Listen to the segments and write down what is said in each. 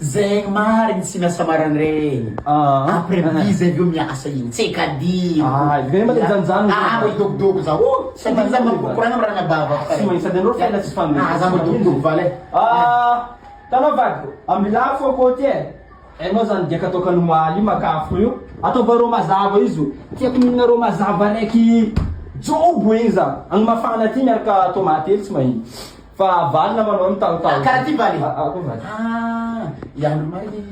Zegny marigny tsy miasa marigny regny après midi zay aveo miasa igny tsy kadino ah igny zay mba te hijanojano ah mba hidobodobo za oh sady igny za mba mikoragna amy ranabavako fa regny sady anao fiaina tsy fandeha ah za mba midobodobo vala e ah tanao vadiko amy lafo akao ty e hainao zany dia kataoko any omaly io maka afo io ataova rô mazava io zo tiako mihinana rô mazava raiky jobo igny za any mafana ty miaraka tomaty hely tsy mahita Fa valina manao ny tantara. Karaha ty bani. Ah, i Andry Mary.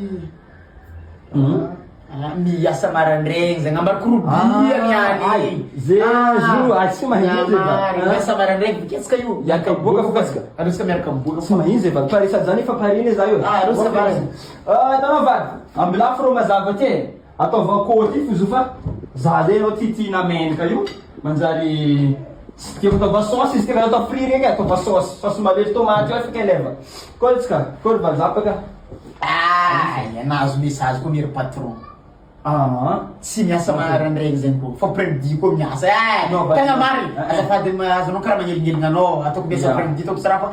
Ah, miasa marandraigny zegny ambany korobia niany. Ze jour ah tsy mahinjy e ba. Miasa marandraigny miketsaka io. Miaraka miboaka fo kasika. Aleo sika miaraka miboaka. Tsy mahinjy e ba. Pare sady zany efa pare ne za io. Ah, aleo sika miaraka. Ah, tanao vady. Ambilafy rô mazava ty e. Ataovy akory ty f'izao fa za zay anao ty tiana mendrika io manjary tsy tiako ataova saosy izy ty fa atao fri reny e ataova saosy saosy malefo tomaty ohatra kay leva kôry tsika kôry valzapa ka aah nahazo message koa anie ry patron aa tsy miasa marandraigny zegny koa fa après midi koa miasa eeh tegna marigny azafady azonao karaha manelingeligny anao ataoko miasa après midi ataoko tsy raha fa